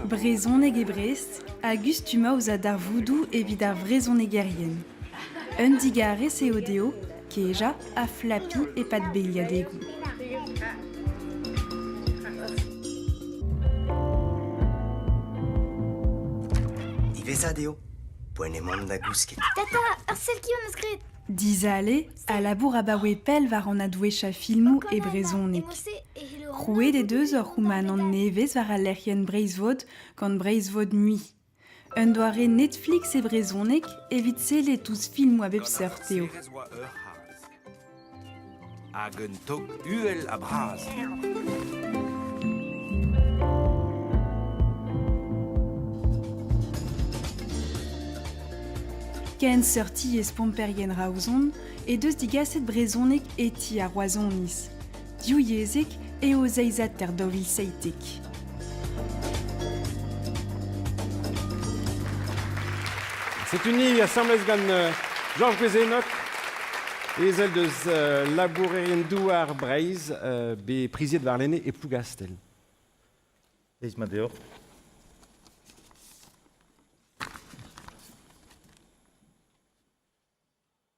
Brezhoneg e Brest hag ustummañ ouzh ar darvoudoù evit ar vrezhonegerien. Un digarez eo dezho kejañ ha flapiñ e-pad beilhadegoù. Diwezhat eo poent emaomp da gousket. Tata, ur sell ki am eus graet. Dizale, a labour abaoe pell war an adwezhiañ filmoù e brezhoneg. Krouet he deus ur c'houmanant nevez war al lec'hienn Breizhvod gant Breizhvod Nuit. Un doare Netflix e brezhoneg evit sellet ouzh filmoù a bep seurt eo. Hag un tog uhel ha bras. Ken seurti e Spomperien Raozon e deus digaset brezhoneg hetiñ ar Roazhoniz. Divyezhek eo zeizhataer daou vil seitek. C'est uni asambles gant euh, Georges Guézenoc, ezel deus euh, labourerien douar Breizh, euh, bet priziet war lene e Plougastell. Feiz mat deoc'h.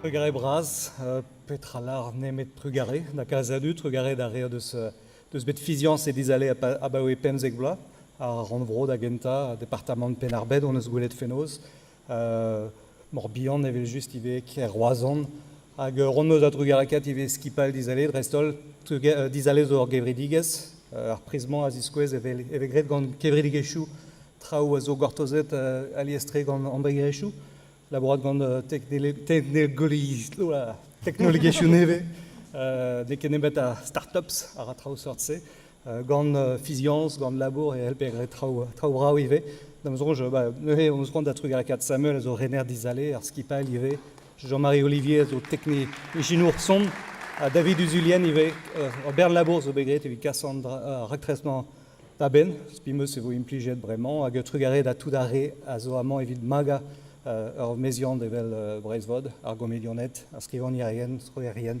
Trugarez bras. petra lar nemet trugarez da kalz a dud. Trugarez a rea deus, deus bet fiziañs e dizh ale abaoe pemzek bloaz. Ar rannvro da gentañ, departamant Penn-ar-Bed, hon eus gwelet fenoz. Morbihan evel-just ivez kêr Roazhon. Hag ur ront-meuz a-drugarekaet ivez skipailh dizale dreist-holl, dizale zo ur gevredigezh. Ar priz-mañ a ziskouez e vez graet gant kevredigezhioù traoù a zo gortozet alies-tre gant embregerezhioù, labourat gant teknologiezhioù nevez. N'eo ket nemet ar startups a ra traoù seurt-se. gant fiziañs, gant labour e c'hellper graet traoù traoù brav ivez. Da'm soñj, bah, neuze on c'hoant da trugarekaat Samuel, a zo rener dizale ar skipailh ivez. Jean-Marie Olivier zo teknik ijinour son, ha David Uzulien ivez. Ur bern labour zo bet graet evit kas an raktresmañ da benn, spimeus e vo implijet bremañ, hag trugarez da tout ar re a zo amañ evit magañ ur meziant evel Breizhvod, ar gomedianed, ar skrivagnerien, strollerien